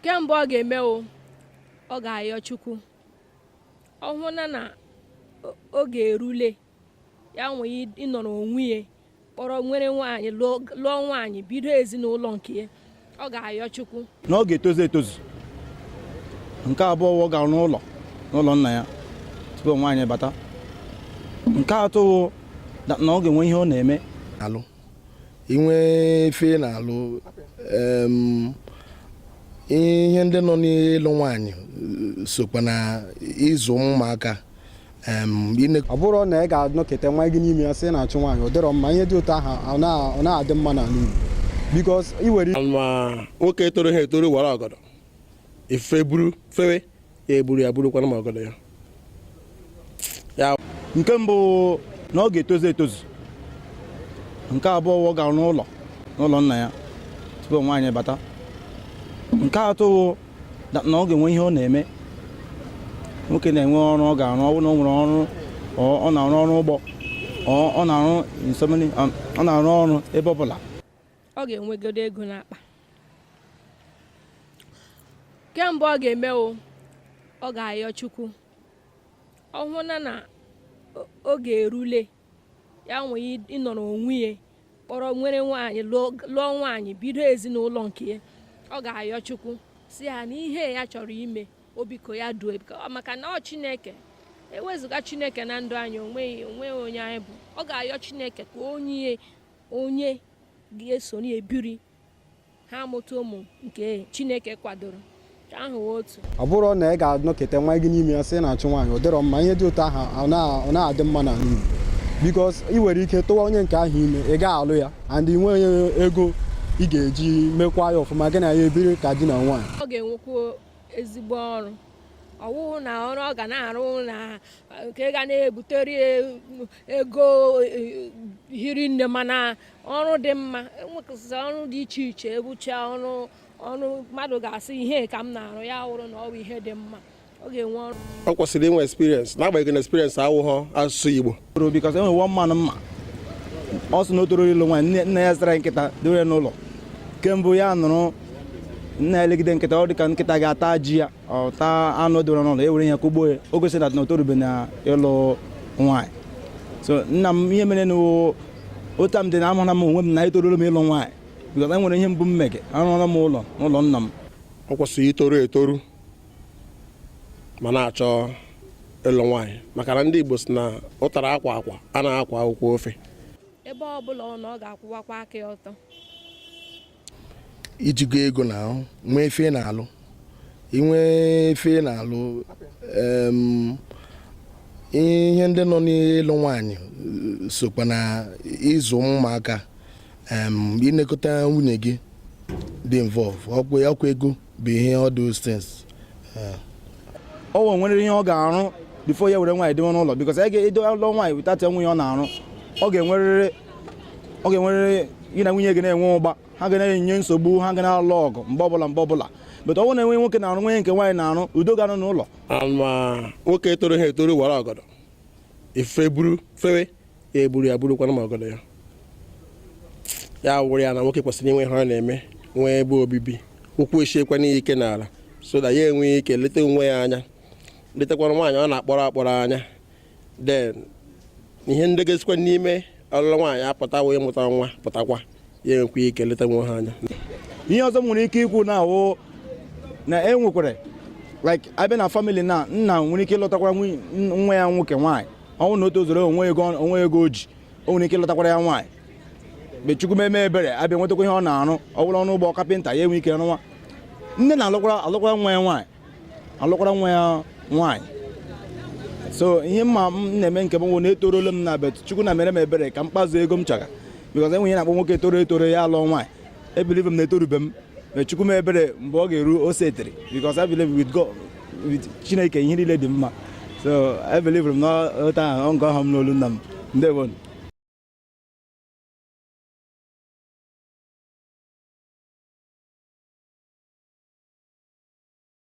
nke mbụ ọ ga-eme o ọ ga-ayọ chukwu ọ hụ na na o- oge erule ya nwee ịnọrọ onwe ya kpọrọ nwere nwaanyị lụọ lụọ nwaanyị bido ezinụlọ nke ya ọ ga-ayọ chukwu na ọ ga-etozu etozu nke abụọ wụ ọ ga-arụ ụlọ n'ụlọ nna ya tupu nwaanyị bata nke atọ wụ na na ọ ga-enwe ihe ọ na-eme alụ inwe ife na-alụ ihe ndị nọ n'ịlụ nwaanyị sokwa na ịzụ ụmụaka ọ bụrụ na ị ga-anọkata nwa gị n'ime ya sị na-achụ nwaanyị ọ dịrọ mma ihe dị otu ahụ ọ na-adị mma n'ala Igbo because i nwere ma nwoke toroha etoro wara ọgọdọ ifufe buru fewe ya eburu ya burukwana ma ọgọdọ ya ya nke mbụ na ọ ga-etozu etozu nke abụọ ọ ga-arụ ụlọ n'ụlọ nna ya tupu nwaanyị bata nke atọ wụ na na ọ ga-enwe ihe ọ na-eme nwoke na-enwe ọrụ ọ ga-arụ ọ bụrụ na o nwere ọrụ ọ ọ na-arụ ọrụ ugbo ọ ọ na-arụ in so many- ọ na-arụ ọrụ ebe ọ bụla ọ ga-enwegodo ego n'akpa nke mbụ ọ ga-eme o ọ ga-ayọ chukwu ọ hụ na na o- oge erule ya nwee ịnọrọ onwe ya kpọrọ nwere nwaanyị lụọ lụọ nwaanyị bido ezinụlọ nke ya ọ ga-ayọ chukwu si ya na ihe ya chọrọ ime o biko ya duo biko- maka na ọ chineke ewezụga chineke na ndụ anyị onweghị onweghị onye anyị bụ ọ ga-ayọ chineke ka o nye onye ga-eso ebiri ha amụta ụmụ nke chineke kwadoro ọ bụrụ na ị ga-anọkata nwa gị n'ime ya sị na-achụ nwaanyị ọ dịrọ mma ihe dị otu aha ọ na-adị mma n'ala Igbo because ị nwere ike tụwa onye nke ahụ ime ị ga-alụ ya and ị nweghị ego ị ga-eji mekwa ya ọfụma gị na ya ebiri ka di na nwaanyị ọ ga-enwekwu ezigbo ọrụ ọ wụhụ na ọrụ ọ ga na-arụ na nke ga na-ebutere ego e, hiri nne mana ọrụ dị mma e nwegasị ọrụ dị iche iche ọ bụcha ọrụ ọrụ mmadụ ga-asị ihe ka m na-arụ ya wụrụ na ọ bụ ihe dị mma ọ ga-enwe ọrụ ọ kwesịrị inwe experience n'agbanyeghị na experience awụghọ asụsụ Igbo because e nwere one man m ma ọ sị na o toro ịlụ nwaanyị nna ya zụrụ nkịta dore n'ụlọ kemgbe ya nọrọ na-elegide nkịta ọ dị ka nkịta ga-ata ji ya ọ ta anụ doro n'ụlọ e were ihe kụgbuo ya o gosi na na o torube na ịlụ nwaanyị so nna m ihe mere na otu m dị na amara m onwe m na etoruola m ịlụ nwaanyị because e nwere ihe mbụ m mege arụọla m ụlọ n'ụlọ nna m ọ kwesịrị itoru etoru ma na-achọ ịlụ nwaanyị maka na ndị Igbo si na ụtara akwa akwa a na-akwa akwụkwọ ofe ebe ọ bụla ọ nọ ọ ga-akwụwakwa aka ya ọtọ i jigo ego na ahụ nwee ife ị na-alụ inwe ife ị na-alụ ihe ndị nọ n'ịlụ nwaanyị sokwa na ịzụ ụmụaka ịnekọta nwunye gị dị involve ọkwa ego bụ ihe all those things o nwere ihe ọ ga-arụ before ya were nwaanyị dịwe n'ụlọ because anyị ga-edo ụlọ nwaanyị without inwe ihe ọ na-arụ ọ ga-enwerịrị ọ ga-enwerịrị gị na nwunye gị na-enwe ụgba ha ga na-enye nsogbu ha ga na-alụ ọgụ mgbe ọbụla mgbe ọbụla but ọ na-enwe nwoke na-arụ nwee nke nwaanyị na-arụ udo ga-anọ n'ụlọ ma nwoke etoroha etoro wara ọgọdọ ife buru fewe ya eburu ya burukwanụ ma ọgọdọ ya ya wụrụ ya na nwoke kwesịrị inwe ihe ọ na-eme nwee ebe obibi ụkwụ esiekwanụ ya ike n'ala so that ya enwee ike leta onwe ya anya letakwana nwaanyị ọ na-akpọrọ akpọrọ anya then ihe ndị ga-esikwa n'ime ọlụlụ nwaanyị apụta wụ ịmụta nwa pụtakwa ya enwekwa ike leta onwe ha anya ihe ọzọ m nwere ike ikwu na-awụ na e nwekwara like a bịa na family na nna nwere ike ịlụtakwara nwa ya nwoke nwaanyị ọ wụ na o tozuru o nwe ego o nwe ego o ji o nwere ike ịlụtakwara ya nwaanyị mgbe chukwu meme ebere abịa nwetakwa ihe ọ na-arụ ọ bụrụ ọnụ ụgbọ kapịnta ya enwe ike rụwa nne na-alụkwara alụkwara nwa ya nwaanyị alụkwara nwa ya nwaanyị so ihe m ma na-eme nke m wụ na etorola m na but chukwu na-emere m ebere ka m kpazuo ego m chọrọ because e nwe ihe a na-akpọ nwoke toro etoro ya alụọ nwaanyị ebelieve m na etorube m ma chukwu mee m ebere mgbe ọ ga-eru o setiri because I believe with God with Chineke ihe niile dị mma so ebelieve m na otu ahụ ọngọ ọhụm n'olu nna m ndewo